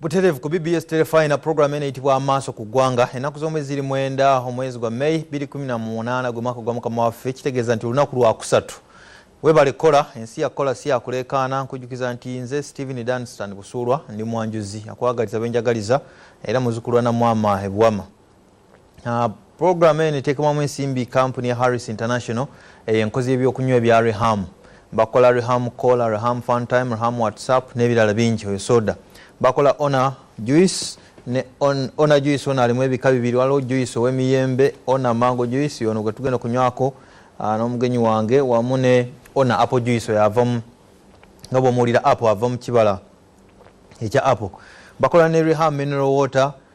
butereevu ku bbs telefina puroguramu eno eyitibwa amaaso ku ggwanga ennaku z'omwezi ziri mwenda omwezi gwa may 218 gwe mwaka gwa mukama waffe kitegeeza nti olunaku lwakusatu webale kukola ensi yakukola si yakuleekaana nkujjukiza nti nze stephen danstan busuulwa ndi mwanjuzi akwagaliza benjagaliza era muzukulwa namwama ebuwama Uh, Programu eno eteekebwamu ensimbi kampuni ya Harris International eyo eh, enkozi y'ebyokunywa ebya Reham. Bakola Reham Cola, Reham Funtime, Reham WhatsApp n'ebirala bingi oyo soda. Bakola Ona Juice ne on, Ona Juice ona alimu ebika bibiri waliwo juice ow'emiyembe Ona Mango Juice ono gwe tugenda okunywako ah, n'omugenyi wange wamu ne Ona Apple Juice oyo avamu nga bw'omuwulira apple ava mu kibala ekya apple. Bakola ne Reham Mineral Water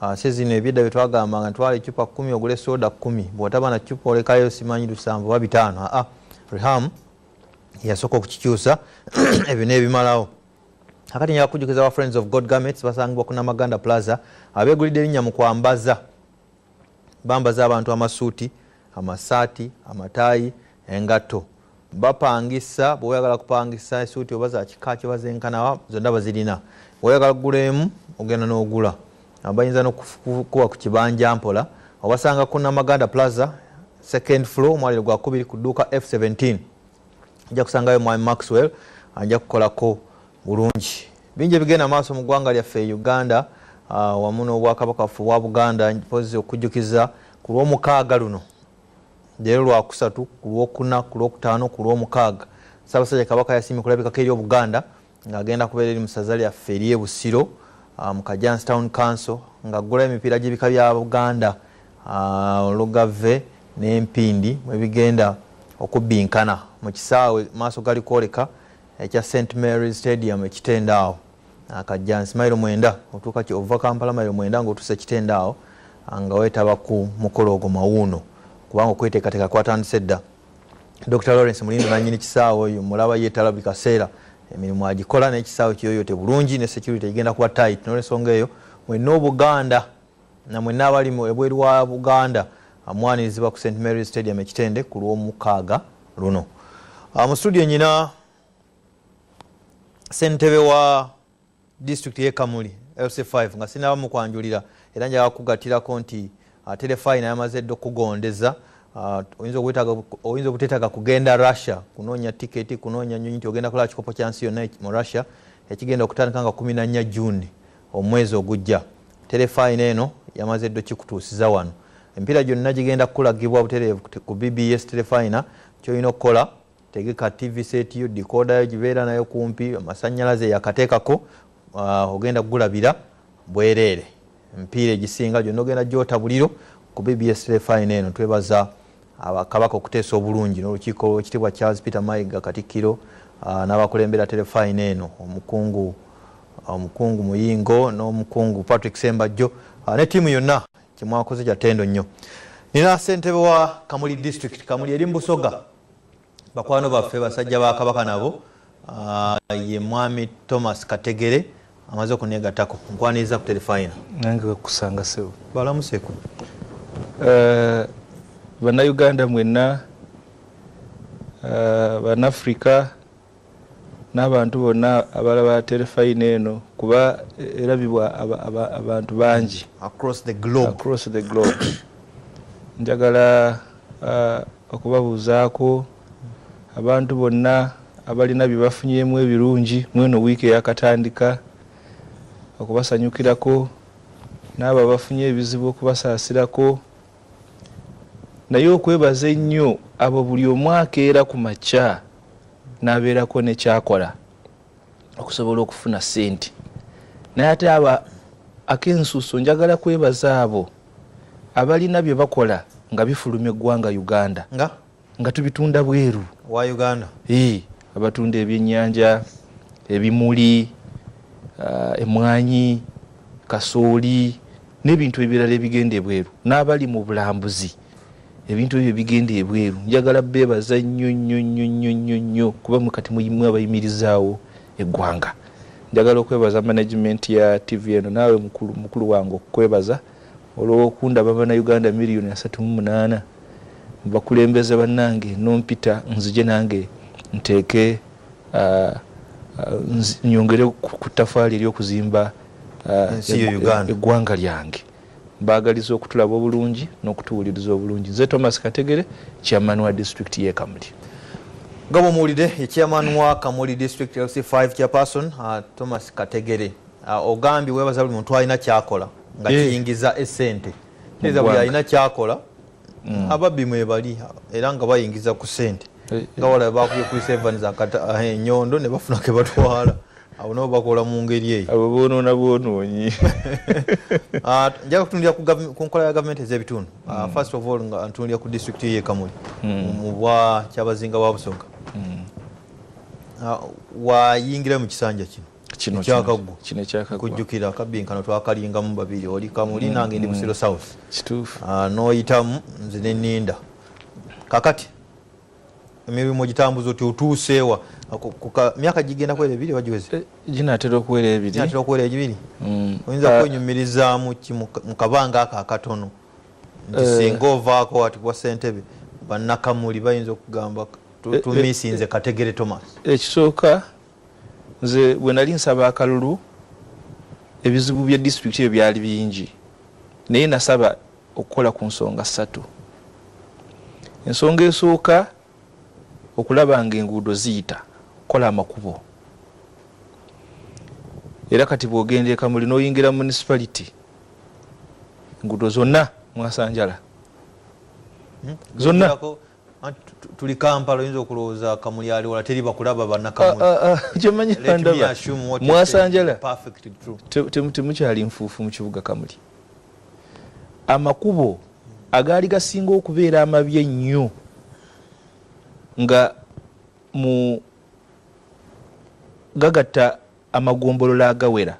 Ate zino ebyedda byetwagambanga ntwala ecupa kumi ogule soda kumi bwotaba na cupa olekayo simanyi lusanvu oba bitaano aa reham yasooka okukikyusa ebyo nebimalawo akati nja kujukiza wa friends of god garments basangibwa ku namaganda plaza abegulidde erinnya mu kwambaza bambaza abantu amasuuti amasaati amataayi engatto bapangisa bweoyagala kupangisa esuuti oba zakikaaki oba zenkanawa zonna bazirina oyagala kugula emu ogenda n'ogula bayinza nokukuba ku kibanja mpola obasanga ku namaganda plaza second floor omwaliro gwakubiri ku dduuka f17 ajja kusangayo mwami maxwell ajja kukolako bulungi bingi ebigenda maaso mu ggwanga lyaffe uganda ah, wamu n'obwakabaka waffe obwa buganda mpozi okujjukiza ku lwomukaaga luno leero lwakusatu ku lwokuna ku lwokutaano ku lwomukaaga ssaabasajja kabaka yasiimye kulabikako eri obuganda ng'agenda kubeera eri mu ssaza lyaffe ery'e busiro ah, mu kajans town council ng'aggulayo emipiira gy'ebika bya buganda ah, olugave n'empindi mwe bigenda okubbinkana mu kisaawe maaso gali kwoleka ekya st mary stadium ekitendaawo akajjansi mailo mwenda otuuka ki ova kampala mailo mwenda nga otuse kitende awo nga wetaba ku mukolo ogwo mawuuno kubanga okweteekateeka kwatandise dda dr lawrence mulindo nanyini kisaawe oyo mulaba yetala buli kaseera emirimu agikola naye kisaawe kiyoyote bulungi ne security egenda kuba tight nolwensonga eyo mwenna obuganda namwenna abali ebweru wa buganda amwanirizibwa ku st mary stadium ekitende ku lwomukaaga luno ah, mu studio nyina sentebe wa district ye kamuli lc5 nga sinaba mukwanjulira era njaga kugatirako nti uh, telefayina yamaze edda okugondeza uh, oyinza obutetaga kugenda russia kunonya tiketi kunonya nyonyi nti ogenda kulaba kikopo kyansi yonna mu russia ekigenda okutandika nga 14 juni omwezi ogujja telefayina eno yamaze edda okikutuusiza wano empiira gyonna gigenda kukulagibwa butereevu ku bbs telefayina kyolina okukola tegeka tv set yo dikoda yo gibeera nayo kumpi amasanyalaze yakateekako ah, ogenda kugulabira bwereere mpiira egisinga gyonna ogenda gyota buliro ku bbs refine eno twebaza kabaka okuteesa obulungi n'olukiiko ekitibwa charles peter mayiga katikkiro ah, n'abakulembera terefine eno omukungu ah, omukungu muyingo n'omukungu patrick sembajjo ne tiimu yonna kyemwakoze kyatendo nnyo nina sentebe wa kamuli district kamuli eri mu busoga bakwano baffe basajja ba kabaka nabo ah, ye mwami thomas kategere amaze okunegatako nkwaniriza ku terefayina nange wekusanga sebo balamuseko eh, banauganda mwenna eh, banafrica n'abantu bonna abalaba terefayina eno kuba erabibwa abantu bangi across the globe, across the globe. njagala uh, okubabuuzaako abantu bonna abalina bye bafunyemu ebirungi mweno wiiki eyakatandika okubasanyukirako n'abo abafunye ebizibu okubasaasirako naye okwebaza ennyo abo buli omwakeera ku makya nabeerako nekyakola okusobola okufuna sente naye ate aba akensuso njagala kwebaza abo abalina byebakola nga bifuluma eggwanga uganda nga, nga tubitunda bweru wa uganda e, abatunda ebyenyanja ebimuli uh, emwanyi kasooli n'ebintu ebirala ebigenda ebweru n'abali mu bulambuzi ebintu ebyo bigenda ebweru njagala bebaza nnyo nnyo nnyo nnyo nnyo nnyo kuba mukati muyimu abayimirizaawo eggwanga njagala okwebaza management ya tv eno naawe mukulu mukulu wange okukwebaza olwokundaba banauganda miliyoni asatu mu munaana bakulembeze bannange nompita nzije nange nteeke uh, uh, nyongere ku ttafaali eryokuzimba uh, eggwanga lyange Mbaagaliza okutulaba obulungi n'okutuwuliriza obulungi. Nze Thomas Kategere, Chairman wa Disitulikiti y'e Kamuli. Nga bw'omuwulidde ye Chairman wa Kamuli District LC5 Chairperson uh, Thomas Kategere. Uh, ogambye weebaza buli muntu alina kyakola nga eh. kiyingiza esente. Kiriza buli alina kyakola mm. ababbi mwebali era nga bayingiza ku sente. Eh, eh. Nga wala bakubye kuli Sevens enyondo ne bafuna ke batwala. abo nabo bakola mu ngeri eyo abo bonoona bwonoonyi ah, njaga kutunulira ku nkola ya gavumenti ez'ebitundu ah, hmm. first of all nga ntunulira ku disitulikiti ye kamuli hmm. mu bwa kyabazinga wa busonga hmm. ah, wayingira mu kisanja kino ekyakaggwa kujjukira akabbinkano twakalingamu babiri oli kamuli nange ndi busiro south n'oyitamu nze neninda kakati emirimu ogitambuza oti otuuseewa myaka gigenda kuwera ebiri oba giweze eh, ginatera okuwera ebiriatera okuwera egibiri mm. oyinza ah. kwenyumirizaamu ki mu kabanga ako akatono nti eh. singa ovaako ati kuba sentebe banakamuli bayinza okugamba eh, tumisinze kategere thomas ekisooka Nze bwe nali nsaba akalulu ebizibu bya disitulikiti ebyo byali bingi naye nasaba okukola ku nsonga ssatu. Ensonga esooka okulaba nga enguudo ziyita okukola amakubo era kati bwogenda ekamuli noyingira municipality enguudo zonna mwasanjala hmm? zonna tuli kampala oyinza okulowooza kamuli ali wala teri bakulaba banakamwmwasanjala ah, ah, ah, temukyali nfuufu mu kibuga kamuli amakubo agaali gasinga okubeera amabi ennyo nga mu gagatta amagombolola agawera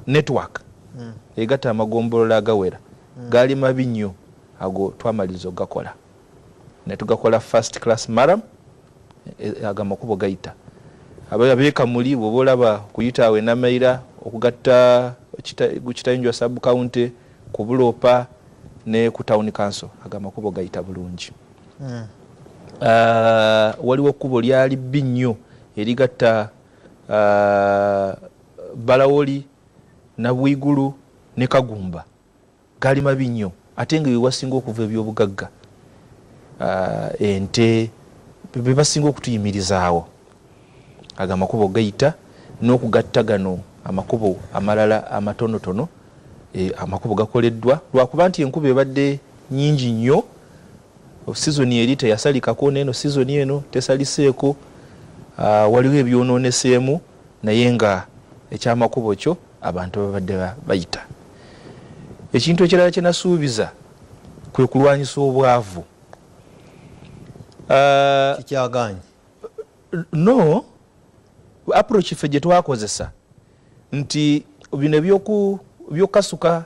network mm. egata amagombolola agawera mm. gaali mabi nnyo ago twamaliriza okugakola netugakola first class maram e, e, ago amakubo gayita abekamuli bwoba olaba kuyita awo enamaira okugatta kitayinjwa sub county kubuloopa ne ku town council ago amakubo gayita bulungi mm. uh, waliwo ekkubo lyali bbi nnyo erigatta balawoli nabwigulu ne kagumba gali mabi nnyo ate nga wewasinga okuva ebyobugagga ente bebasinga okutuyimirizaawo ago amakubo gayita n'okugatta gano amakubo amalala amatonotono e, amakubo gakoleddwa lwakuba nti enkuba ebadde nyingi nnyo Sizoni eri teyasalikako n'eno sizoni eno tesaliseeko. Waliwo ebyonooneseemu naye nga ekyamakubo kyo abantu babadde bayita. Ekintu ekirala kye nasuubiza kwe kulwanyisa obwavu. Kikyagaanyi? No. Approach ffe gye twakozesa nti bino eby'okukasuka.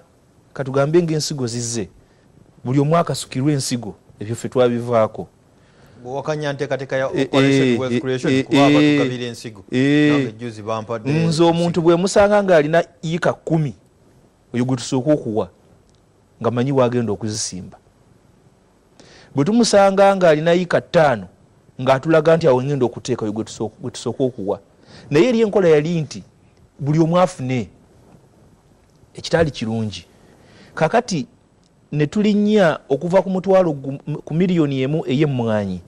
katugambe nga ensigo zizze buli omu akasukirwa ensigo ebyo ffe twabivaako nze omuntu bwemusanga nga alina yika kumi oyo gwetusooka okuwa nga manyi wagenda okuzisimba bwe tumusanga nga alina yika ttaano ngaatulaga nti awo ngenda okuteeka oyo gwetusooka okuwa naye eri enkola yali nti buli omu afune ekitaali kirungi kakati netulinnya okuva ku mutwalo ku miliyoni emu ey'emmwanyi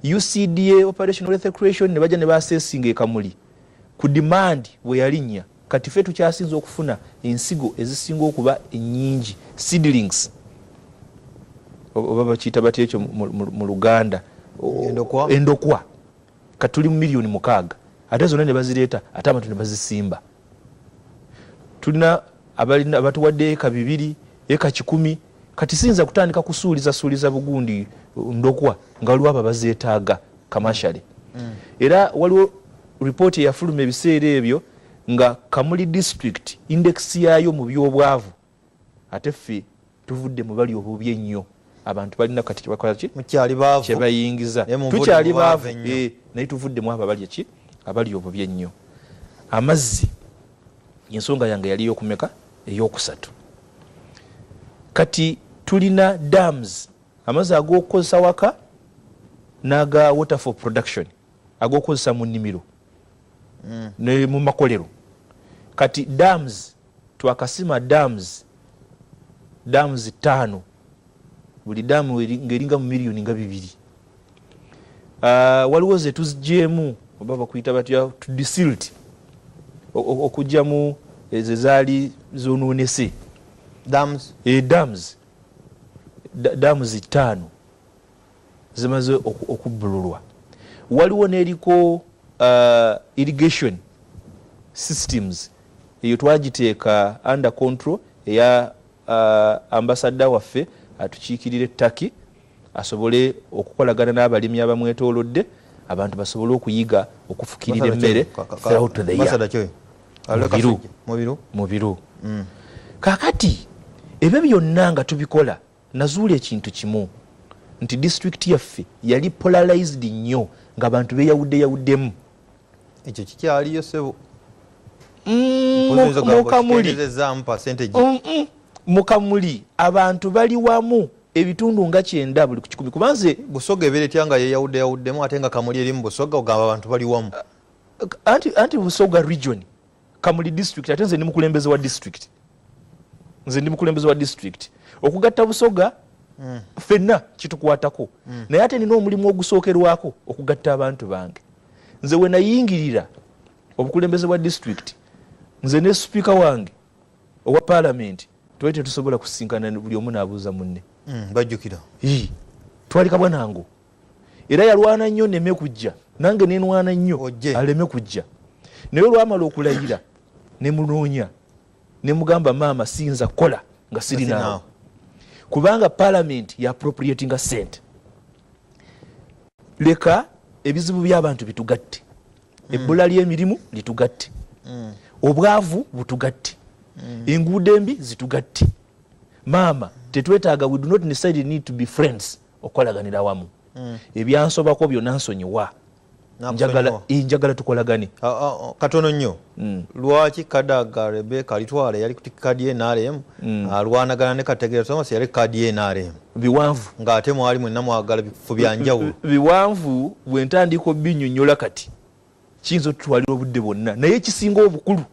ucda operational ethecration ne bajja ne basesinga ekamuli ku demand bwe yalinnya kati fe tukyasinza okufuna ensigo ezisinga okuba ennyingi seedlings oba bakiyita batya ekyo mu luganda endokwa kati tuli mu miliyoni mukaaga ate zonna ne bazireeta ate abantu ne bazisimba tulina abatuwadde eka bibiri eka kikumi kati siyinza kutandika kusuuliza suuliza bugundi uh, ndokwa nga waliwo abo abazeetaaga kamashale mm. era waliwo ripooti eyafuluma ebiseera ebyo nga kamuli district index yaayo mu byobwavu Ate ffe tuvudde mu bali obubi ennyo. Abantu balina kati kyebakola ki? Mukyali baavu. Kyebayingiza. Tukyali baavu ennyo. Eh, naye tuvudde mu abo abali ki? Abali obubi ennyo. Amazzi ensonga yange yali eyokumeka? Eyokusatu. Kati tulina dams amazzi agokukozesa waka naga water for production agokukozesa mu nnimiro mm. ne mu makolero kati dams twakasima dams dams taano buli damu ngaeringa mu miliyoni nga bibiri ah, waliwo zetuzigyemu oba bakuyita batya tudisilt okugyamu ezo ezaali zononese dams e, dams dams ttaano zimaze okubbululwa waliwo neliko uh, irrigation systems eyo twagiteeka under control eya uh, ambasadda waffe atukiikirira ettaki asobole okukolagana n'abalimi abamwetoolodde abantu basobole okuyiga okufukirira emmere mubiru kakati ebyo byonna nga tubikola nazuula ekintu kimu nti district yaffe yali polarized nnyo nga bantu beyawudde yawuddemu ekyo kikyaliyo sebo mukamuli mukamuli abantu bali wamu ebitundu nga kyenda buli kukikumi kubanze busoga ebeera etya nga yeyawudde yawuddemu ate nga kamuli eri mu busoga ogamba abantu bali wamu anti, anti busoga region kamuli district ate nze ndi mukulembeze wa district nze ndi mukulembeze wa district okugatta busoga mm. fenna kitukwatako mm. naye ate nina omulimu ogusookerwako okugatta abantu bange nze wenayingirira obukulembeze bwa district nze ne sipiika wange owa palamenti twali tetusobola kusisinkana buli omu nabuuza munne mm, bajjukira twali kabwanango era yalwana nnyo neme kujja nange nenwana nnyo aleme kujja naye olwamala okulayira nemunoonya nemugamba maama siyinza kukola nga sirinaawo kubanga palamenti ya appropriatinga sente leka ebizibu byabantu bitugatte mm. ebbula lyemirimu litugatte mm. obwavu butugatte mm. enguudo embi zitugatte maama tetwetaaga we do not necessarily need to be friends okukolaganira awamu mm. ebyansobako byonna nsonyiwa njagala eh, tukolagane ah, ah, ah, katono nnyo mm. lwaki kadaga rebeka alitwala yali kuti kadi nrm mm. alwanagana ne kategera thomas yali kadi nrm biwanvu ng'ate mwali mwenna mwagala bifu bya njawulo biwanvu bwe ntandika obinyonyola kati kiyinza otutwalira obudde bwonna naye ekisinga obukulu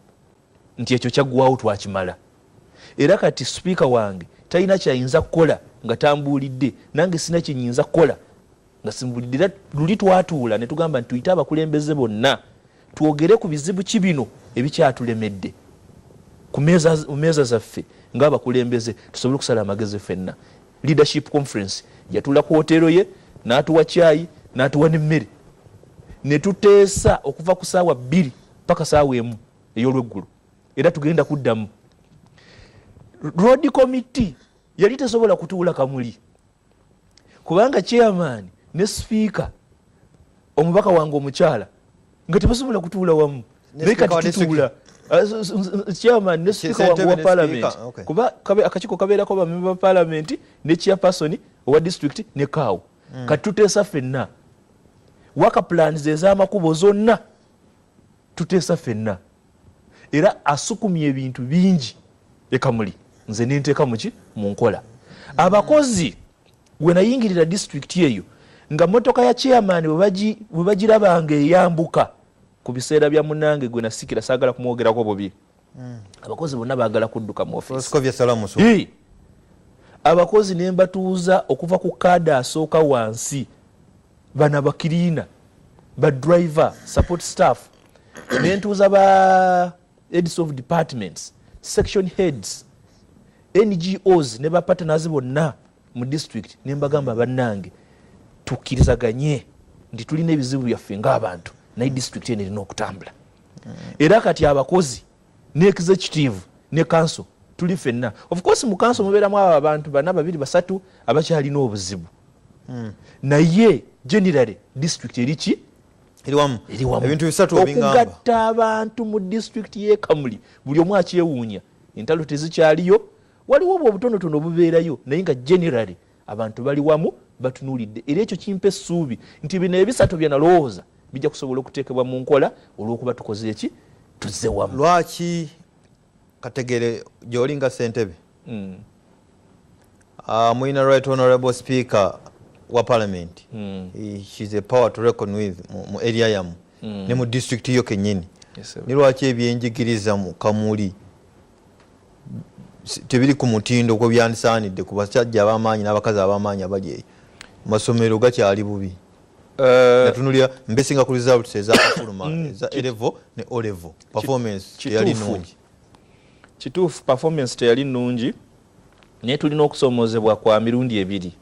nti ekyo kyaggwawo twakimala era kati sipiika wange talina kyayinza kukola nga tambuulidde nange sina kyenyinza kukola nga simbulidde era luli twatuula ne tugamba nti tuyite abakulembeze bonna twogere ku bizibu ki bino ebikyatulemedde ku meeza zaffe ngaabakulembeze tusobole okusala amagezi fenna leadership conference yatula ku hoteero ye n'atuwa kyayi n'atuwa n'emmere ne tuteesa okuva ku saawa bbiri paka saawa emu eyolweggulo era tugenda kuddamu road committee yali tesobola kutuula kamuli kubanga chairman ne sipiika omubaka wange omukyala nga tebasobola kutuula wamu naye kati tutuula Ah, chairman ne speaker wange wa parliament kuba akakiko kabeerako bamemba ba parliament ne chairperson owa district ne kaawo hmm. kati tuteesa fenna waka plans ez'amakubo zonna tuteesa fenna era asukumye ebintu bingi ekamuli nze nenteeka muki mu nkola abakozi wenayingirira disitulikiti eyo nga motoka ya chairman bwe bagirabanga eyambuka ku biseera bya munange gwe nasikira saagala kumwogerako bubi abakozi bonna bagala kudduka mu ofisi abakozi ne mbatuuza okuva ku kaada asooka wansi bana bakiriina ba driver support staff ne ntuuza ba heads of departments section heads ngos ne bapartners bonna mu district ne mbagamba bannange tukkirizaganye nti tulina ebizibu byaffe ng'abantu naye district eno erina okutambula era kati abakozi ne executive ne kanso tuli fenna ofcourse mu kanso mubeeramu abo abantu bana babiri basatu abakyalina obuzibu hmm. naye generally district eriki okugatta abantu mu district yekamuli buli omu akyewuunya entalo tezikyaliyo waliwo obwo obutonotono obubeerayo naye nga generally Abantu bali wamu batunuulidde era ekyo kimpa essuubi nti bino ebisatu bye nalowooza bijja kusobola okuteekebwa mu nkola olw'okuba tukoze eki tuzze wamu. Lwaki kategere gy'oli nga ssentebe hmm. ah, mulina right honorable speaker wa parliament hmm. she's a power to reckon with mu area yamu hmm. ne mu district yo kennyini ni lwaki ebyenjigiriza mu kamuli tebiri ku mutindo kwe byandisaanidde ku basajja ab'amaanyi n'abakazi ab'amaanyi abali eyo masomero gakyali bubi eh, natunulira mbesinga ku results ezakafuluma mm, eza elevo ne olevo performance teyali nungi kituufu performance teyali nungi naye tulina okusoomozebwa kwa mirundi ebiri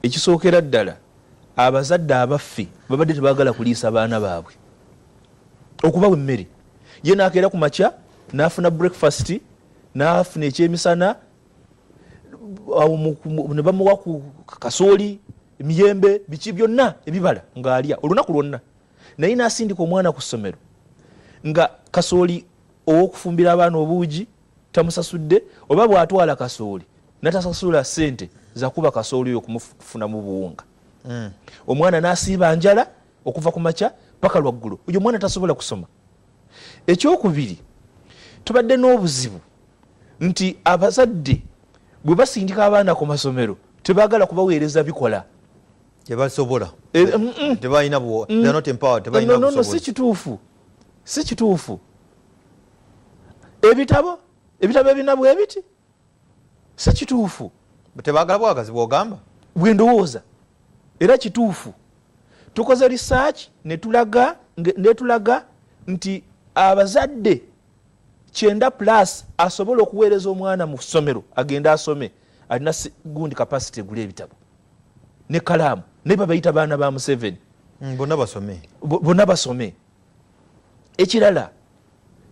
ekisookera ddala abazadde abaffe babadde tebagala kuliisa baana baabwe okubawa emmere ye nakeera ku makya nafuna breakfast nafuna ekyemisana nebamuwa ku kasooli emiyembe biki byonna ebibala ngaalya olunaku lwonna naye nasindika omwana ku ssomero nga kasooli owokufumbira abaana obuugi tamusasudde oba bwatwala kasooli natasasula sente zakuba kasooli oyo kumufunamu buwunga hmm. omwana nasiiba njala okuva ku makya paka lwaggulo oyo omwana tasobola kusoma ekyokubiri tubadde n'obuzibu nti abazadde bwe basindika abaana ku masomero tebagala kubaweereza bikola tebasobola eh, eh, mm, mm. tebalina mm. si kituufu si kituufu ebitabo ebitabo ebina bwebiti Sekituufu tebagala bwagazi bwogamba? Bwendowooza era kituufu tukoze research netulaga netulaga nti abazadde kyenda plus asobola okuweereza omwana mu ssomero agende asome alina gundi capacity egula ebitabo ne kalaamu naye babayita baana ba museveni mm, bonna basome bonna basome ekirala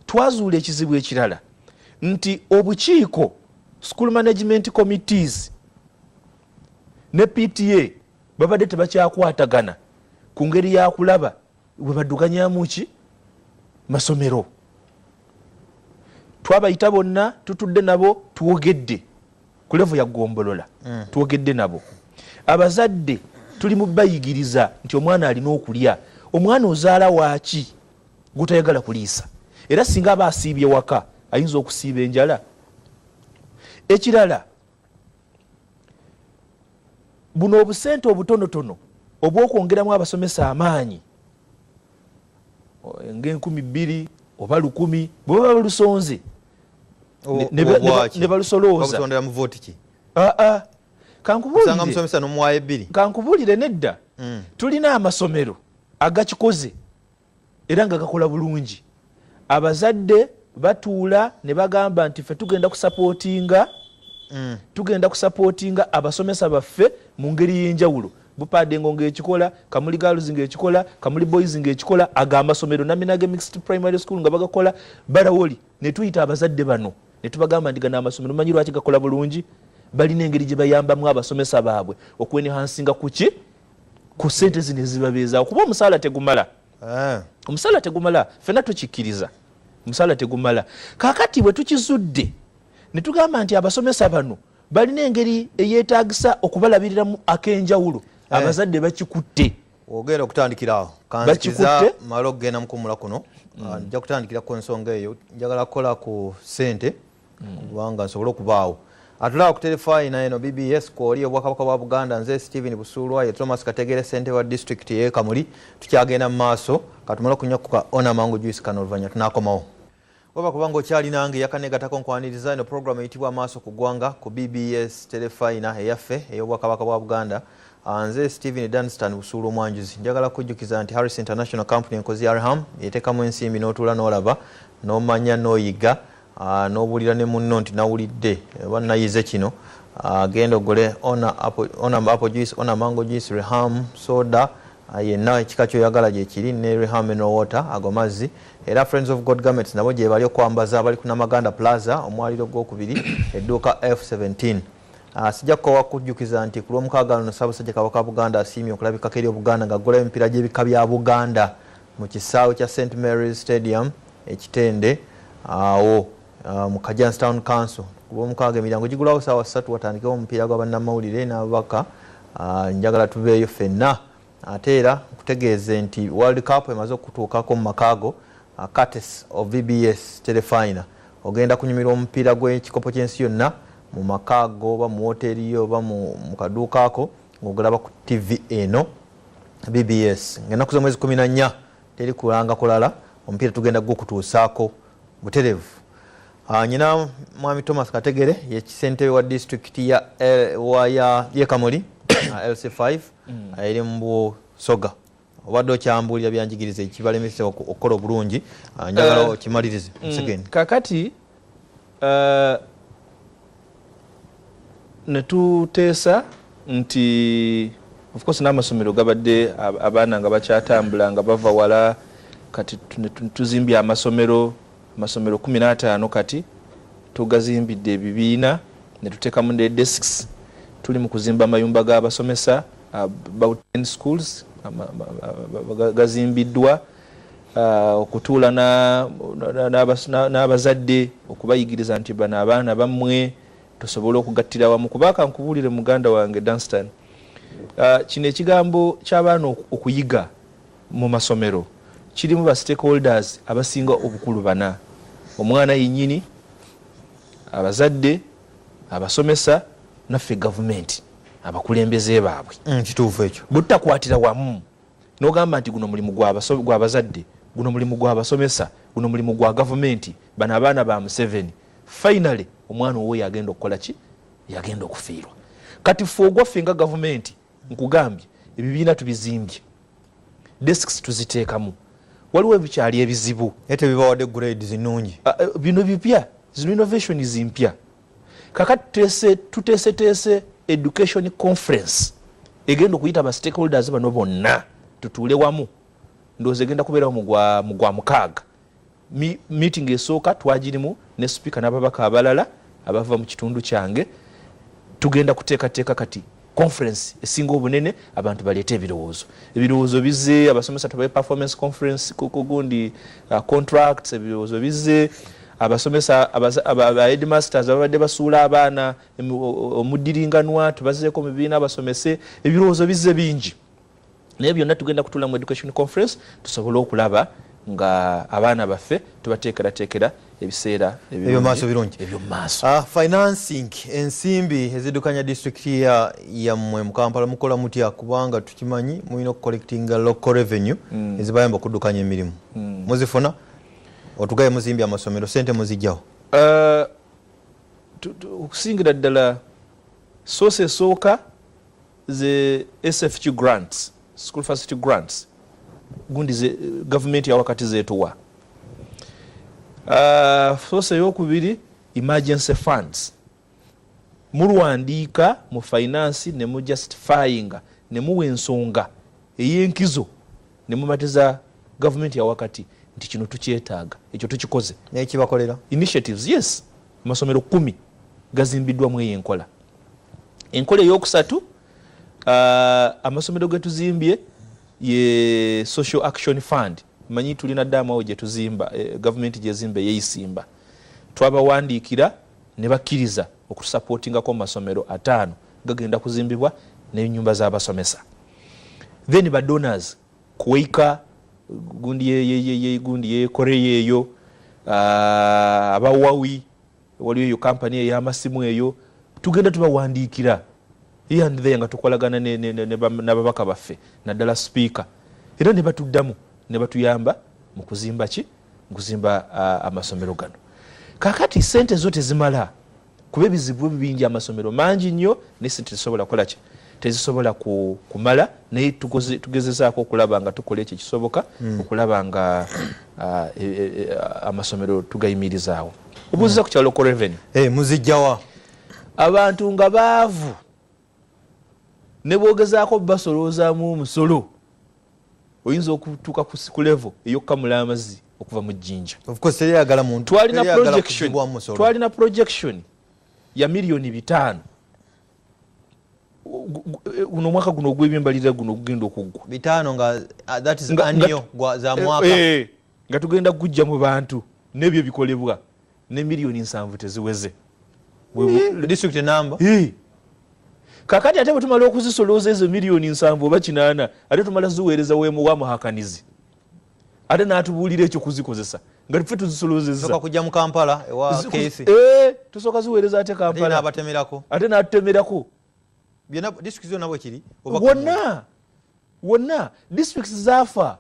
twazuula ekizibu ekirala nti obukiiko school management committees ne pta babadde tebakyakwatagana ku ngeri yakulaba webaduganyamu ki masomero twabayita bonna tutudde nabo twogedde ku levu ya gombolola mm. twogedde nabo abazadde tuli mu bayigiriza nti omwana alina okulya omwana ozaala waaki gutayagala kuliisa era singa aba asiibye waka ayinza okusiiba enjala ekirala buno obusente obutonotono obwokwongeramu abasomesa amaanyi ngaenkumi bbiri oba lukumi bwebaba balusonze ne balusoloozaosondera mu vooti ki ah, ah. kankubuulirosanga musomesa nomuwayo ebbiri kankubuulire nedda mm. tulina amasomero agakikoze era nga gakola bulungi abazadde batuula ne bagamba nti fe tugenda kusapootinga mm. tugenda kusapootinga abasomesa baffe mu ngeri y'enjawulo bupade ngo ngekikola kamuli girls ngekikola kamuli boys ngekikola aga amasomero naminage mixed primary school nga bagakola barawoli netuyita abazadde bano netubagamba nti gana amasomero manyi lwaki gakola bulungi balina engeri gye bayambamu abasomesa baabwe okwenehansinga kuki ku sente zino ezibabeezaawo kuba omusaala tegumala ah. omusaala tegumala fena tukikkiriza omusaala tegumala kakati bwe tukizudde netugamba nti abasomesa bano balina engeri eyetagisa okubalabiriramu akenjawulo eh. abazadde bakikutte ogenda okutandikiraawo kanzikiza mala okugenda mukumula kuno mm. ah, nja kutandikira ku nsonga eyo njagala kukola ku sente mm. kubanga nsobole okubaawo atulaba ku terefayina eno bbs kwoli obwakabaka bwa buganda nze stephen busuulwa ye thomas kategere sente wa disitulikiti yekamuli tukyagenda mu maaso katumala okunyakuka ona mangu juisi kano oluvanyuma tunakomawo waba kubanga okyali nange yakanegatako nkwaniriza eno pulogulaamu eyitibwa amaaso ku ggwanga ku bbs telefayina eyaffe ey'obwakabaka bwa buganda ah, nze stephen dunstan busuula omwanjuzi njagala kujjukiza nti harris international company enkozi ya arham yeteekamu ensimbi n'otuula n'olaba n'omanya n'oyiga ah, n'obuulira ne munno nti nawulidde oba nayize kino ah, genda ogule ona apple juice ona mango juice reham soda Ah, yenna ekika kyoyagala gyekiri ne rehameno water ago mazzi era friends of god garments nabo gyebali okwambaza abali ku namaganda plaza omwaliro gwokubiri edduuka f17 ah, sijja kukowa kujjukiza nti ku lwomukaaga luno ssaabasajja kabaka buganda asiimye okulabikako eri obuganda nga aggulayo emipiira gy'ebika bya buganda mu kisaawe kya st mary's stadium ekitende awo ah, Uh, mu Kajansi Town Council ku Lwomukaaga emiryango gigulawo saawa ssatu watandikewo omupiira gwa bannamawulire n'ababaka uh, njagala tuveeyo ffenna ate era nkutegeeze nti World Cup emaze okutuukako mu makaago uh, Curtis of VBS Telefina ogenda kunyumirwa omupiira gw'ekikopo ky'ensi yonna mu makaago oba mu wooteeri yo oba mu kaduukaako ng'ogulaba ku TV eno BBS ng'ennaku z'omwezi kumi na nnya teri kulanga kulala omupiira tugenda gwokutuusaako buterevu ah, nyina mwami thomas kategere yekisentebe wa disitulikiti ya eh, kamuli ah, lc 5 mm. ah, eri mu busoga obadde okyambuulira byanjigiriza ekibalemese okukola obulungi njagala eh, okimalirize mm, kakati eh, ne tuteesa nti of course n'amasomero gabadde abaana nga bakyatambula nga bava wala kati tuzimbye amasomero amasomero kumi n'ataano kati tugazimbidde ebibiina ne tuteekamu ne desks tuli mu kuzimba amayumba g'abasomesa about 10 schools gazimbiddwa okutuula n'abazadde okubayigiriza nti bano abaana bammwe tusobole okugattira wamu kuba kankubuulire muganda wange dunstan ah, kino ekigambo ky'abaana okuyiga mu masomero kirimu ba stakeholders abasinga obukulu bana omwana yennyini abazadde abasomesa naffe gavumenti abakulembeze baabwe mm, kituufu ekyo butakwatira wamu nogamba nti guno mulimu gwa bazadde guno mulimu gwa basomesa guno mulimu gwa gavumenti bano abaana ba museveni finally omwana owo yagenda okukola ki yagenda okufiirwa kati fe ogwaffe nga gavumenti nkugambye ebibiina tubizimbye desks tuziteekamu waliwo ebikyali ebizibu naye tebibawadde grades nnungi ah, eh, bino bipya zino innovations mpya kakati tuteeseteese education conference egenda okuyita ba stakeholders bano bonna tutuule wamu ndowooza egenda kubeerawo mugwa mukaaga meeting esooka twagirimu ne sipiika n'ababaka abalala abava mu kitundu kyange tugenda kuteekateeka kati conference esinga obunene abantu baleeta ebirowoozo ebirowoozo bize abasomesa tubaye performance conference kugundi uh, contracts ebirowoozo bize abasomesa abaheadmasters babadde basuula abaana omudiringanwa tubazeeko mu bibiina abasomese ebirowoozo bize bingi naye byonna tugenda kutula mu education conference tusobole okulaba nga abaana baffe tubateekerateekera ebiseera ebyomumaaso birungi ebyomumaaso ah, financing ensimbi ezidukanya disitulikiti yammwe mu kampala mukola mutya kubanga tukimanyi mulina okucollectinga local revenue mm. ezibayamba okudukanya emirimu mm. muzifuna otugaye muzimbye amasomero sente muzijjawo ah, okusingira ddala sosi esooka the SFQ grants, school facility grants, gundi ze, government ya wakati zetu wa. Uh, sosa yoku vili emergency funds. Muru andika, mu finance, ne mu justifying, ne mu wensonga, eye nkizo, ne mu matiza government ya wakati, nti chino tuchi etaga, echo tuchi koze. Ne ekiba kolera? Initiatives, yes. Masomero kumi, gazimbidwa mwe yenkola. enkola eyokusatu uh, amasomero getuzimbye ye social action fund manyi tulina daamu awo gyetuzimba eh, gavumenti gyezimba eyeyisimba twabawandiikira ne bakkiriza okutusapootingako mu masomero ataano gagenda kuzimbibwa nenyumba zabasomesa then ba donors kuwaika gundi yegundi yekoreya eyo uh, abawawi waliyo eyo kampani ey'amasimu eyo tugenda tubawandiikira yandithe nga tukolagana n'ababaka baffe naddala sipiika era ne batuddamu ne batuyamba mu kuzimba ki mu kuzimba amasomero gano kakati sente zo tezimala kuba ebizibu bingi amasomero mangi nnyo naye sente tesobola kukola ki tezisobola ku kumala naye tugezezaako okulaba nga tukola ekyo ekisoboka hmm. okulaba nga ah, e, e, e, amasomero tugayimirizaawo obuuziza hmm. ku kyalo ko revenu eh, muzijjawa abantu nga baavu ne bwogezaako basoloozaamu omusolo oyinza okutuuka ku levo eyokukamula amazzi okuva mu jjinja twalina projection ya miliyoni bitaano guno omwaka guno ogw'ebyembalirira guno ogugenda okuggwa bitaano nga ah, that is annual za eh, mwaka eh, nga tugenda kujja mu bantu n'ebyo bikolebwa ne miliyoni nsanvu teziweze district enamba kakati ate bwetumala okuzisolooza ezo miliyoni nsanvu oba kinaana ate tumala ziweereza wemuwamuhakanizi ate natubuulira ekyo kuzikozesa nga tufe tuzisolozezatusoka eh, ziweereza ate kampalabatemerako ate natutemerako wonna wonna districts zafa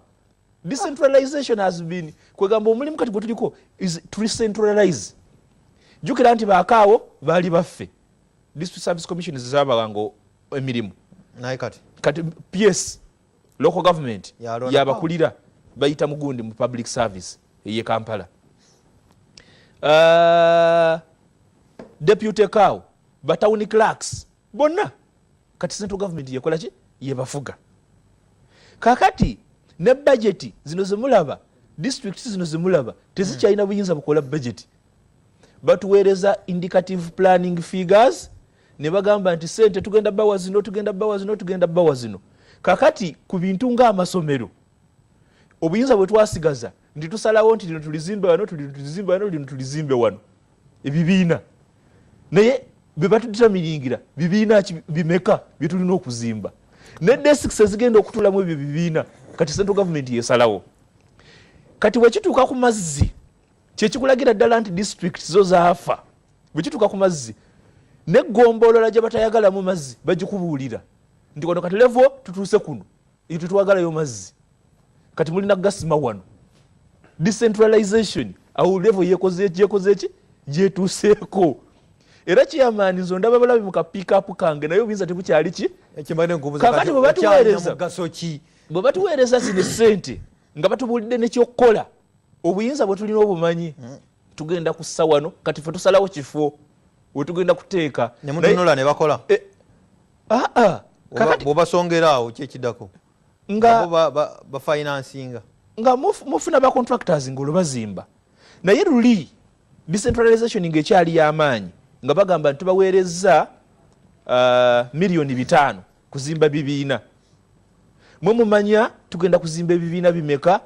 decentralization has been kwegamba omulimu kati gwetuliko is to recentralize jukira nti bakaawo baali baffe district service commission zezabawanga emirimu kati ps local government yabakulira bayita mugundi mu public service eye kampala uh, deputy cow batown clerks bonna kati central government yekolaki yebafuga kakati ne bajeti zino zemulaba district zino zemulaba tezikyalina buyinza bukola bajeti batuweereza indicative planning figures ne bagamba nti sente tugenda bawa zino tugenda bawa zino tugenda bawa zino kakati ku bintu ng'amasomero obuyinza bwe twasigaza nti tusalawo nti lino tulizimbe wano tulino tulizimbe wano lino tulizimbe wano ebibiina naye bye batutamiringira bibiina ki bimeka bye tulina okuzimba ne desiks ezigenda okutulamu ebyo bibiina kati central gavumenti yesalawo kati bwe kituuka ku mazzi kyekikulagira ddala nti district zo zaafa bwekituuka ku mazzi neggombolola gye batayagalamu mazzi bagikubuulira nti wano kati levo tutuuse kuno eyo tetwagalayo mazzi kati mulina gasima wano decentralization awo levo yekozeeki gyetuuseeko era kiyamaani nze ondaba balabi mu kapiikapu kange naye obuyinza tebukyali ki kakati bwebatuweereza bwebatuweereza zino sente nga batubulidde nekyokukola obuyinza bwetulina obumanyi hmm. tugenda kussa wano kati fe tusalawo kifo wetugenda kuteeka nemutunula nebakola eh, ah, ah. bwobasongeraawo kyekidako nga bafinansinga nga mufuna ba contractors nga olubazimba naye luli decentralization nga ekyali yamaanyi nga bagamba nti tubaweerezza uh, miliyoni bitaano kuzimba bibiina mwe mumanya tugenda kuzimba ebibiina bimeka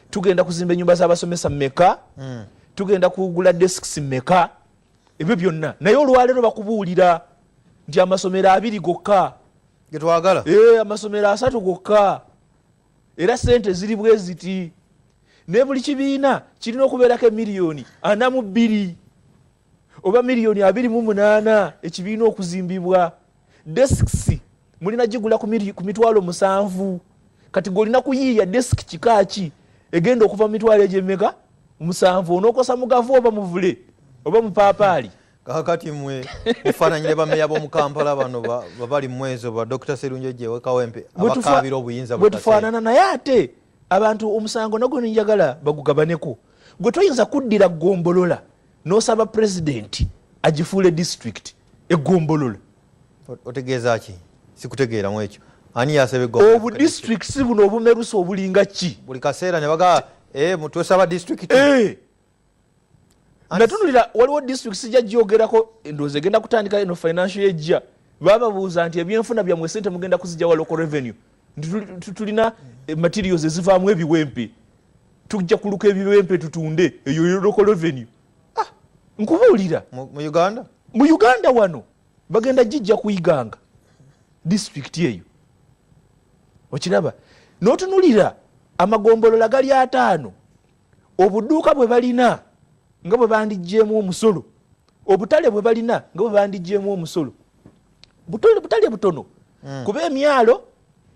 tugenda kuzimba enyumba zabasomesa meka mm. tugenda kugula desks meka ebyo byonna naye olwaleero bakubuulira nti amasomero abiri gokka getwagala eh, amasomero asatu gokka era sente ziri bweziti naye buli kibiina kirina okubeerako emiliyoni ana mu bbiri oba miliyoni abiri mu munaana ekibiina okuzimbibwa desks mulina gigula ku mitwalo musanvu kati golina kuyiiya desk kikaaki egenda okuva mu mitwalo egyemeka musanvu onokosa mugavu oba muvule oba mupaapaali kakati mwe mufaananyire bameya bomukampala bano babali mumwezo ba dr serunjo jewekawempe abakabira obuyinza bwetufaanana naye ate abantu omusango nagwo nenjagala bagugabaneko gwe toyinza kuddira gombolola nosaba president agifuule district egombolola otegeeza ki sikutegeeramu ekyo ani yasaba egombolola obu districts buno obumerusa obulinga ki buli kaseera ne baga eh, twesaba district eh. natunulira waliwo district sijja gyogerako endowooza egenda kutandika eno financial ejja bababuuza nti ebyenfuna byamwe sente mugenda kuzija wa local revenue tulina eh, materials ezivaamu ebiwempe tujja kuluka ebibempe tutunde eyo yoroko revenue ah, nkubuulira mu uganda mu uganda wano bagenda gijja kuyiganga disitulikiti eyo okiraba notunulira amagombolola gali ataano obuduuka bwe balina nga bwe bandijjeemu omusolo obutale bwe balina nga bwe bandijjeemu omusolo butale butono hmm. kuba emyalo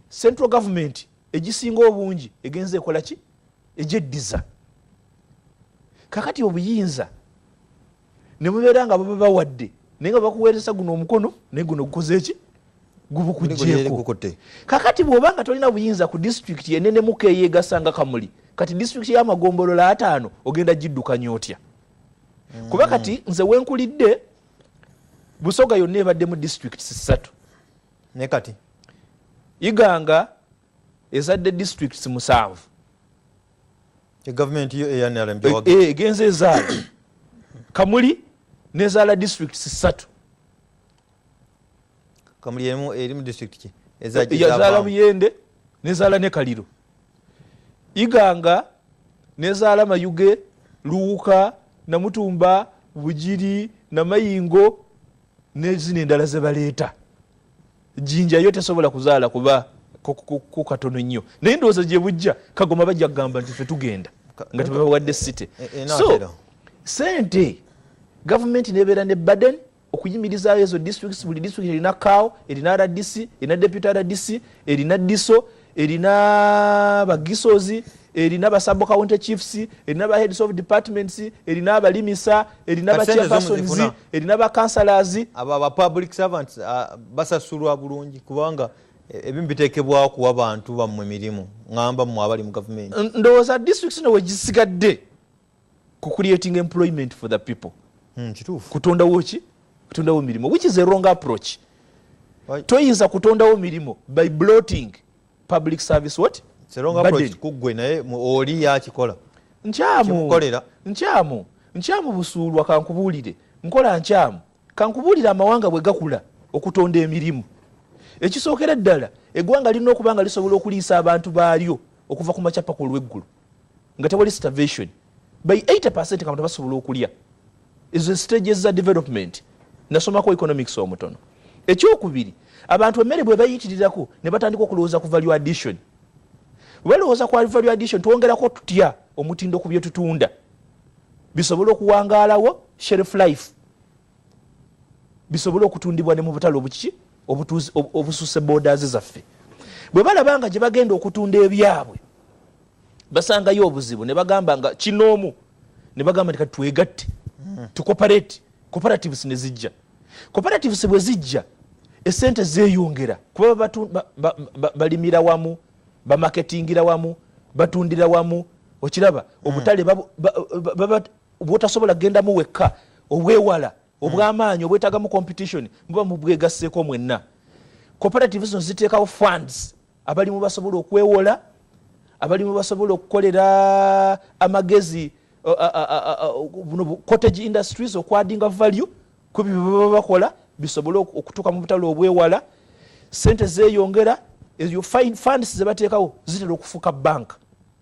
central gavumenti egisinga obungi egenza ekola ki egyeddiza kakati obuyinza nemubeera nga baba bawadde naye nga bakuweereza guno omukono naye guno gukoze eki gubukujeko kakati bwoba nga tolina buyinza ku disitulikiti enenemuka eyegasa nga kamuli kati disitulikiti yamagombolola ataano ogenda giddukanya otya mm. kuba kati nze wenkulidde busoga yonna ebaddemu disitulikiti sisatu naye kati iganga ezadde districts musanvu egavumenti yo eyanrm e, e, egenza ezaala kamuli nezaala districts satu kamuli emu eri mu district ki ezaala muyende nezaala ne kaliro iganga nezaala mayuge luwuka namutumba bugiri namayingo nezino endala zebaleeta jinja yo tesobola kuzaala kuba kukatono nnyo naye ndowooza gyebujja kagoma bajja kugamba nti fe tugenda nga tebabawadde site eh, eh, so sente gavumenti nebeera ne baden okuyimirizaayo ezo districts buli district erina kawo erina rdc erina deputy rdc erina diso erina bagisozi erina basabo county chiefs erina ba heads of departments erina abalimisa erina ba chairpersons erina ba councillors abo aba public servants uh, basasulwa bulungi kubanga e, ebimu bitekebwa kuwa bantu bamwe mirimu ngamba mu abali mu government ndowooza district no wegisigadde ku creating employment for the people mm, kutondawo ki kutondawo mirimu which is a wrong approach toyinza kutondawo mirimu by bloating public service what kuggwe naye oli yakikola nkyamu nkyamu nkyamu busuulwa kankubuulire nkola nkyamu kankubuulire amawanga bwe gakula okutonda emirimu ekisookera ddala eggwanga lirina okuba nga lisobola okuliisa abantu baalyo okuva ku makyapaka olw'eggulu nga tewali starvation by 80 percent kabantu basobola okulya ezo stages za development nasomako economics omutono ekyokubiri abantu emmere bwe bayitirirako ne batandika okulowooza ku value addition balowooza ku value addition twongerako tutya omutindo ku byetutunda bisobole okuwangaalawo shelf life bisobole okutundibwa ne mu butale obukiki obusuuse borders zaffe bwe balaba nga gye bagenda okutunda ebyabwe basangayo obuzibu ne bagamba nga kinoomu ne bagamba nti kati twegatte hmm. tukoperate cooperatives ne zijja cooperatives bwe zijja esente zeyongera kuba balimira wamu bamaketingira wamu batundira wamu okiraba hmm. obutale bwotasobola gendamu wekka obwewala hmm. obwamaanyi obwetagamu competition muba mubwegasseeko mwenna cooperative zino ziteekawo funds abalimu basobola okwewola abalimu basobola okukolera amagezi cottage industries okwadinga value kubyo bebaba bakola bisobole okutuuka mu butale obwewala sente zeyongera ezo funds zebateekawo zitera okufuuka banka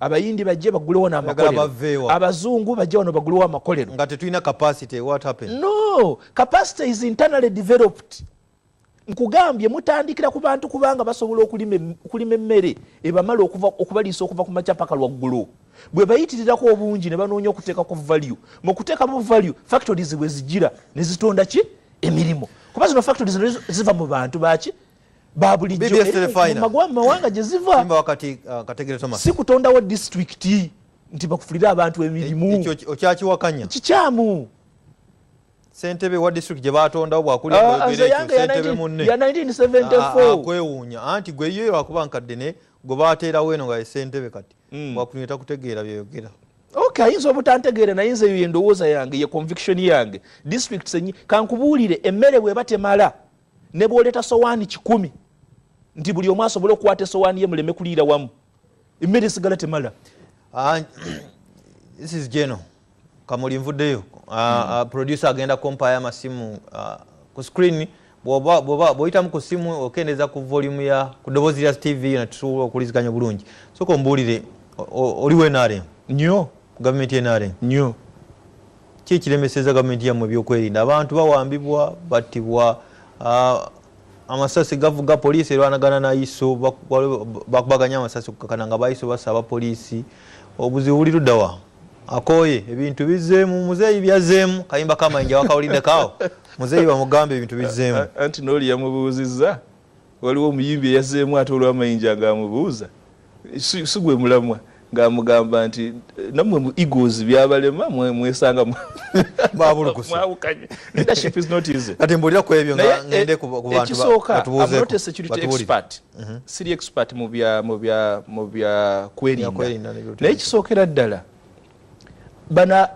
abayindi bajje bagulewo namakolero abazungu bajje wano bagulewo amakolero nga tetulina capacity what happened no capacity is internally developed nkugambye mutandikira ku bantu kubanga basobola okulima emmere ebamala okubaliisa okuva ku makya paka lwaggulu bwe bayitirirako obungi ne banoonya okuteeka ku value mu kuteekamu value factories bwe zijira ne zitonda ki emirimu kuba zino factories ziva mu bantu baki babulijjo eh, mumawanga gyeziva uh, si kutondawo disitulikiti nti bakufulire abantu emirimu okyakiwakanya kikyamu sentebe wa district gye batondawo bwakulikwewuunya ah, ah, ah, anti gwe yo lwakuba nkadde ne gwe bateerawo eno nga sentebe kati hmm. bwakulinya takutegeera byoyogera ok ayinza obutantegeera naye nze eyo yendowooza yange ye conviction yange district senyi kankubuulire emmere bweba temala ne bwoleta sowaani kikumi nti buli omu asobole okukwata esowaani ye muleme kuliira wamu emmere esigala temala ah, this is geno kamuli nvuddeyo ah, hmm. ah, producer agenda kompaya amasimu ku screen bwoyitamu ku simu okendeza ku volume ya ku dobozi lya tv yona tusobola okuliziganya obulungi soka ombuulire oliwo nrm nyo gavumenti nrm nyo ki ekiremeseza gavumenti yamu ebyokwerinda abantu bawambibwa battibwa amasasi gavuga poliisi erwanagana naiso bakubaganya amasasi kukakana nga baiso basaba poliisi obuzibu buli ludawa akoye ebintu bizeemu muzeeyi byazeemu kayimba kamayinja wakawulidde kaawo muzeeyi bamugambe ebintu bizeemu anti nooli yamubuuzizza waliwo omuyimbi eyazeemu ate olwamayinja ng'amubuuza si gwe mulamwa ng'amugamba nti nammwe mu egos byabalema mwesanga mwawukanye leadership is not easy kati mbulira ku ebyo nga ngende ku bantu ekisooka i'm not a security expert mhm. siri expert mu bya mu bya mu bya kwerinda naye kisookera ddala bana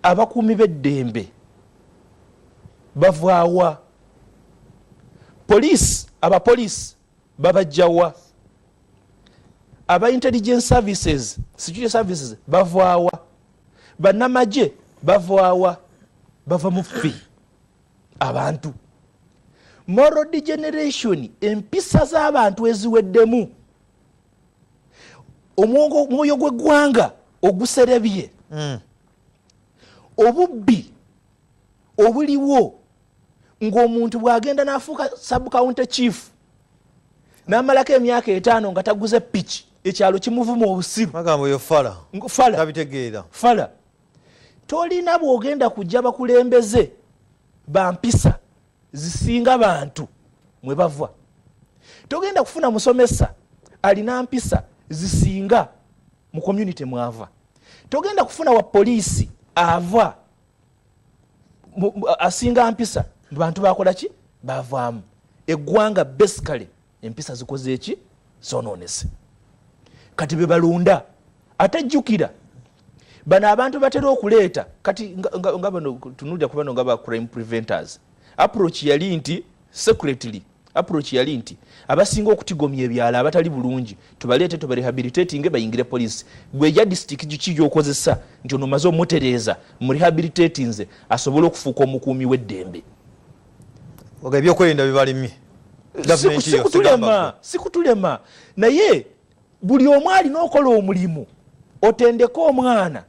abakuumi b'eddembe bavaawa police abapolice babajjawa aba intelligence services security services bavaawa banamagye bavaawa bava mufi abantu moral degeneration empisa z'abantu eziweddemu omwoyo gw'eggwanga oguserebye mm. obubbi obuliwo ng'omuntu bw'agenda n'afuuka subcounty chief n'amalako emyaka etaano nga taguze piki ekyalo kimuvuma obusiru fala tolina bw'ogenda kujja bakulembeze bampisa zisinga bantu mwe bava togenda kufuna musomesa alina mpisa zisinga mu community mwava togenda kufuna wa poliisi ava asinga mpisa bantu bakola ki bavaamu eggwanga basically empisa zikoze eki zononese kati bebalonda ate jjukira bano abantu batera okuleeta kati nga bano tunulira kubano nga ba crime preventers approach yali nti secretly approach yali nti abasinga okutigomya ebyalo abatali bulungi tubaleete tubarehabilitatinge bayingire poliisi gweja disitiki giki gyokozesa nti ono omaze omutereeza murehabilitatinze asobole okufuuka omukuumi w'eddembe ebyokwerinda bibalemye sikutulema sikutulema naye buli omu alina okola omulimu otendeke omwana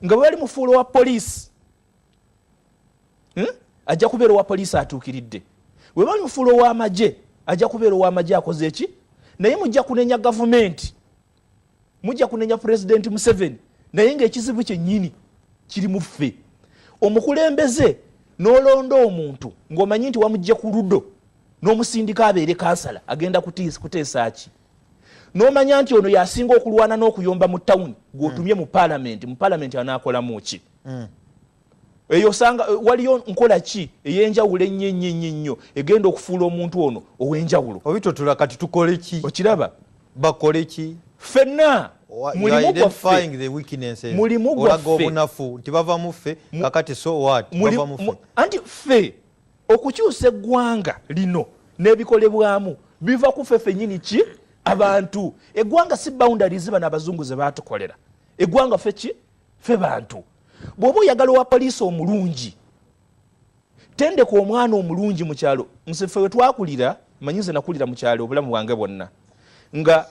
nga bwebali mufuula wa poliisi hmm? ajja kubeera owa poliisi atuukiridde weba mufuula ow'amagye ajja kubeera ow'amagye akoze eki naye mujja kunenya gavumenti mujja kunenya pulezidenti museveni naye ngaekizibu kyennyini kiri mu ffe omukulembeze n'olonda omuntu ng'omanyi nti wamugje ku ludo n'omusindika abeere kansala agenda kuteesa ki n'omanya nti ono yasinga okulwana n'okuyomba mu tawuni gw'otumye mu palamenti mu palamenti anaakolamu ki no mm. eyo osanga eh, waliyo nkola ki eyenjawulo ennyo ennyo ennyo ennyo egenda okufuula omuntu ono ow'enjawulo obitotula kati tukole ki okiraba bakole ki fenna mulimu gwaffe mulimu gwaffe obunafu nti bava mu ffe kakati so what bava mu ffe anti ffe okukyusa eggwanga lino n'ebikolebwamu biva ku ffe fenyini ki abantu eggwanga si boundaries bano abazungu ze baatukolera eggwanga ffe ki fe bantu bwoba oyagala owa poliisi omulungi tendeka omwana omulungi mukyalo nsefe wetwakulira manyi nze nakulira mukyalo obulamu bwange bwonna nga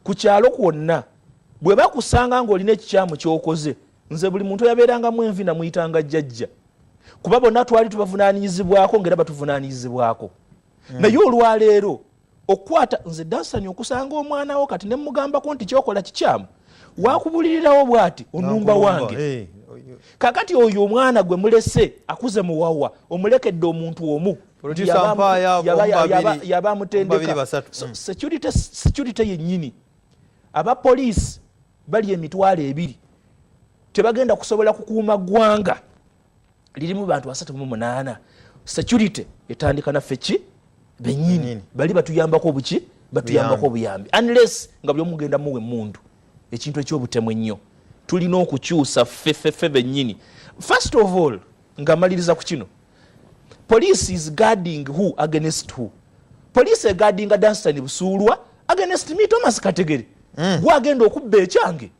ku kyalo kwonna bwe bakusanga ng'olina ekikyamu kyokoze nze buli muntu oyabeerangamu envi namuyitanga jjajja kuba bonna twali tubavunaanyizibwako ngaera batuvunaanyizibwako hmm. naye olwaleero okukwata nze dansani okusanga omwana wo kati nemugambako nti kyokola kikyamu wakubulirirawo bwati onumba wange eh, kakati oyo omwana gwe mulese akuze muwawa omulekedde omuntu omu yaba amutendeka mm. security yenyini aba poliisi bali emitwalo ebiri tebagenda kusobola kukuuma ggwanga lirimu bantu asatu mu munaana security etandika naffe ki benyini bali batuyambako obuki batuyambako obuyambi unless nga byomugenda muwe mundu ekintu ekyobutemu ennyo tulina okukyusa ffeffeffe benyini first of all nga maliriza ku kino police is guarding who against who police eguardinga danstan busuulwa against me thomas kategere mm. gwagenda okubba ekyange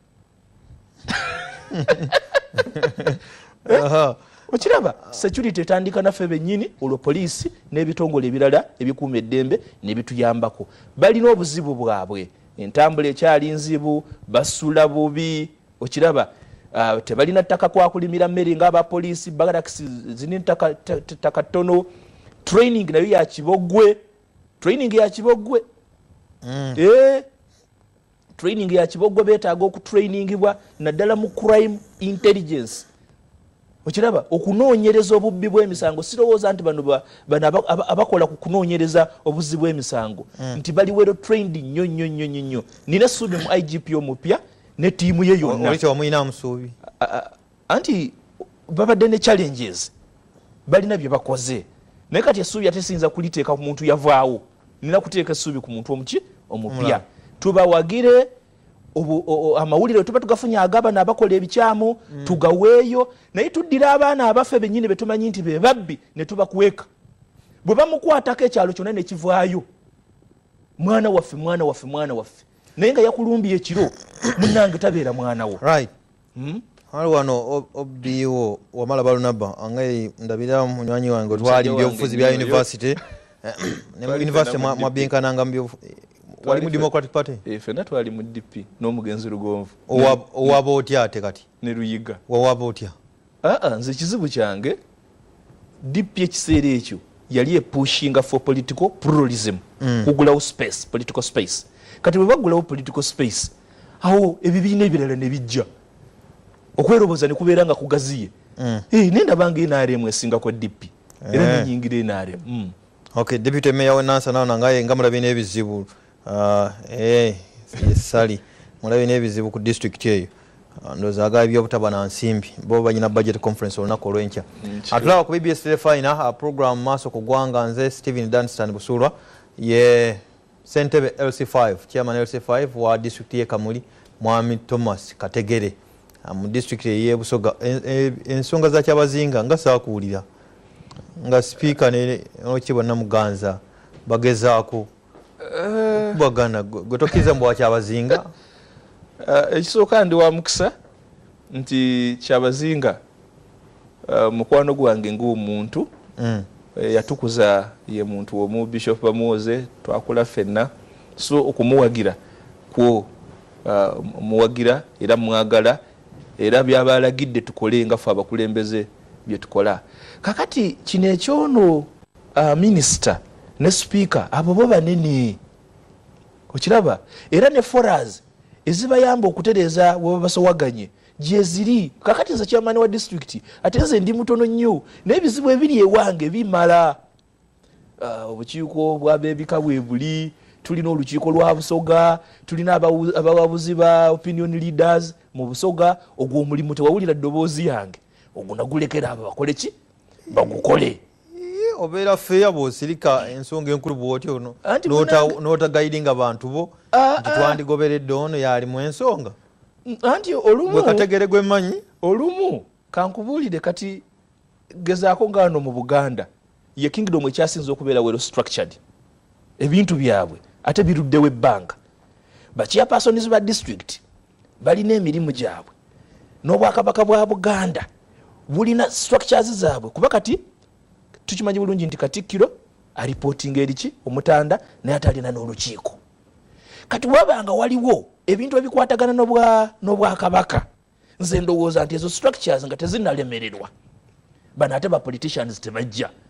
eh? okiraba security etandika naffe benyini olwo poliisi n'ebitongole ebirala ebikuuma eddembe nebituyambako balina obuzibu bwabwe entambula ekyali nzibu basula bubi okiraba ah, tebalina ttaka kwakulimira mmere nga abapoliisi barakisi zini ttaka ttono training nayo yakibogwe training yakibogwe mm. eh? training ya kiboggwa beetaaga okutrainingibwa naddala mu crime intelligence okiraba okunoonyereza obubbi bw'emisango sirowooza nti bano bano abakola ku kunoonyereza obuzzi bw'emisango hmm. nti bali wero trained nnyo nnyo nnyo nnyo nnyo nina essuubi mu igp omupya ne tiimu ye yonna anti babadde ne challenges balina bye bakoze naye kati essuubi ate siyinza kuliteeka ku muntu yavaawo nina kuteeka essuubi ku muntu omuki omupya tubawagire amawulire tuba tugafunye agabana abakola ebikyamu mm. tugaweeyo naye tuddira abaana abaffe bennyini betumanyi nti bebabbi ne tubakweka bwe bamukwatako ekyalo kyonna nekivaayo mwana waffe mwana waffe mwana waffe naye nga yakulumbiye ekiro munange tabeera mwanawo right. hmm? ali wano obiwo wamala balunaba angai ndabira munywanyi wange otwali mubyobufuzi bya univesity eh, ne univesity mwabinkananga wali mu democratic party eh, fena twali mu dp n'omugenzi lugonvu owaba otya ate kati ne luyiga wawaba otya aa ah, ah, nze ekizibu kyange DP ekiseera ekyo yali epushinga for political pluralism mm. kugulawo space political space kati bwe bagulawo political space awo ebibiina ebirala ne bijja okweroboza ne kubeera nga kugaziye mm. hey, eh, nenda bange nrm esinga kwa DP era eh. nenyingira nrm mm. okay deputy mayor we nansa naona ngaye nga mulabina ebizibu Ah, eh, sali mulabe n'ebizibu ku disitulikiti eyo ah, ndoza agaba ebyobutaba na nsimbi bo banyina budget conference olunaku olwenkya atulaba ku bbs telefina ah, program maaso ku ggwanga nze stephen danstan busuulwa ye sentebe lc5 chairman lc5 wa disitulikiti ye kamuli mwami thomas kategere mu disitulikiti eyebusoga ensonga za kyabazinga nga saakuwulira nga sipiika nokitibwa namuganza bagezaako eh. kubagana gwe tokkiriza mbu wakyabazinga eh, ekisooka ndi wa mukisa nti kyabazinga eh, mukwano gwange ngaomuntu mm. yatukuza ye muntu omu bishop bamuwoze twakula ffenna so okumuwagira kwo muwagira era mwagala era byaba alagidde tukole nga fe abakulembeze byetukola kakati kino ekyono uh, minister ne speaker abo bo banene okiraba era ne foras ezibayamba okutereeza webabasowaganye gyeziri kakati nze kyamaani wa disitulikiti ate nze ndi mutono nnyo naye ebizibu ebiri ewange bimala uh, obukiiko bwabebika bwebuli tulina olukiiko lwa busoga tulina abawabuzi ba opinion leaders mu busoga ogwo omulimu tewawulira ddoboozi yange ogwo nagulekera abo bakoleki bagukole obeera feeya bwosirika ensonga enkulu bwotyo nota guidinga bantu bo ah, ah. nti twandigoberedde ono yaali mu ensonga anti olumukategere gwemanyi olumu kankubuulire kati gezaako ngaano mu buganda ye kingdom ekyasinza okubeera wero structured ebintu byabwe ate biruddewo ebbanga bakiapersons ba district balina emirimu gyabwe n'obwakabaka bwa buganda bulina structures zaabwe kuba kati tukimanyi bulungi nti katikkiro alipotinga eriki omutanda naye atalina n'olukiiko kati wabanga waliwo ebintu ebikwatagana n'obwakabaka nze ndowooza nti ezo structures nga tezinalemererwa bano ate ba politicians tebajja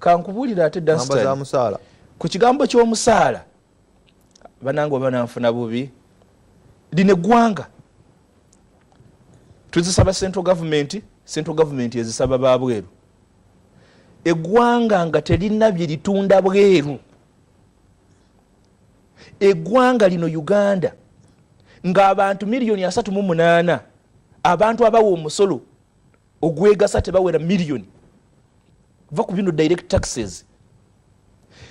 kankubulire ate dastan ku kigambo ky'omusaala banange oba nanfuna bubi lino eggwanga tuzisaba central gavumenti central gavumenti ezisaba ba bweru eggwanga nga terina bye litunda bweru eggwanga lino uganda ng'abantu miliyoni asatu mu munaana abantu abawa omusolo ogwegasa tebawera million va ku bino direct taxes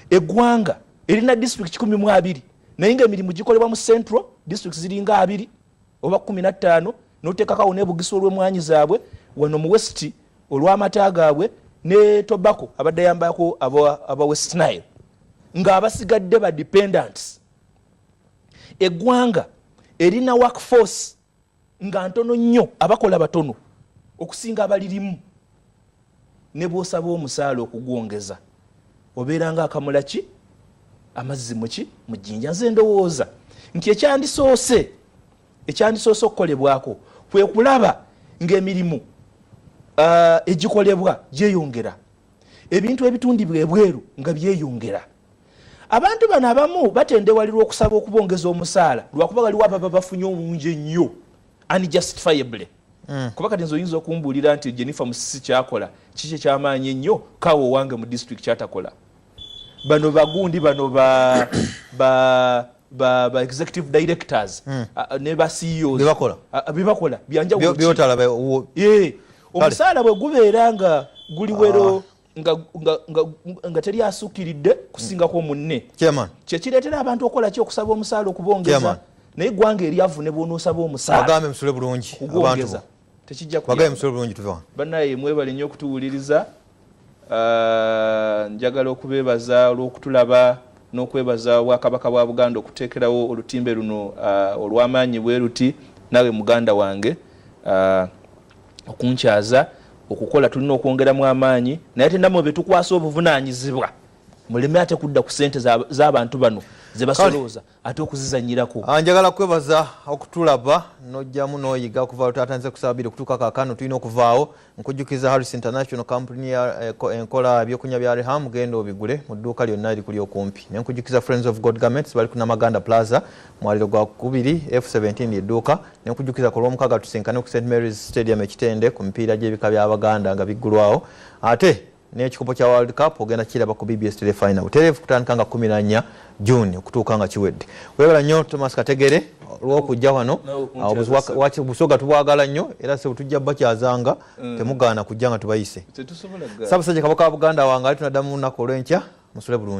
egwanga erina district kikumi mu abiri naye nga emirimu gikolebwa mu central district ziringa abiri oba kumi na ttaano notekakawo nebugisa olwemwanyi zaabwe wano mu west olwamata gaabwe ne tobacco abadde yambako aba west nile nga abasigadde ba dependents egwanga erina work force nga ntono nnyo abakola batono okusinga abalirimu ne bwosaba omusaala okugwongeza obeera nga akamula ki amazzi muki mu jjinja nze ndowooza nti ekyandisoose ekyandisoose okukolebwako kwe kulaba ng'emirimu uh, egikolebwa gyeyongera ebintu ebitundibwa ebweru nga byeyongera Abantu bano abamu batendewalirwa okusaba okubongeza omusaala lwakuba waliwo ababa bafunye omungi ennyo unjustifiably mm. kuba kati nze oyinza okumbuulira nti jennifer musisi kyakola kiki ekyamaanyi ennyo kaawo owange mu district kyatakola bano bagundi bano ba, ba, ba, ba executive directors mm. uh, ne ba ceos bebakola uh, bebakola byanjawulo omusaala bwe gubeera nga guliwero ah. nga teri asukkiridde kusingako munne kyekireetera abantu okukola ki okusaba omusaala okubongeza naye eggwanga eryavu ne bwonoosaba omusaalagambe musule bulungi kubongeza tekijjagambe musule bulungi tuva banaye mwebale nnyo okutuwuliriza ah, njagala okubeebaza olw'okutulaba n'okwebaza obwakabaka bwa buganda okuteekerawo olutimbe luno ah, olw'amaanyi bwe luti nawe muganda wange ah, okunkyaza okukola tulina okwongeramu amaanyi naye tenamwe betukwasa obuvunanyizibwa muleme ate kudda ku sente z'abantu bano zebasolooza ate okuzizanyirako ah, njagala kwebaza okutulaba nojjamu noyiga okuva lutatanze kusaba biri okutuuka kakano tulina okuvaawo nkujjukiza harris international company eh, enkola ebyokunya bya reham genda obigule mu dduuka lyonna eri kuli okumpi ne nkujjukiza friends of god garments bali ku namaganda plaza mwaliro gwa kubiri f 17 edduuka Nenkujjukiza ku lw'omukaaga tusinkane ku St Mary's Stadium ekitende ku mipiira gy'ebika by'Abaganda nga biggulwawo ate n'ekikopo kya World Cup ogenda kiraba ku BBS Telefinal butereevu kutandika nga kumi na nnya June okutuuka nga kiwedde. Webala nnyo Thomas Kategere olw'okujja wano obusoga tubwagala nnyo era se butujja bakyazanga mm. temugaana kujja nga tubayise. Ssaabasajja Kabaka wa Buganda wange ali tunaddamu lunaku olw'enkya musule bulungi.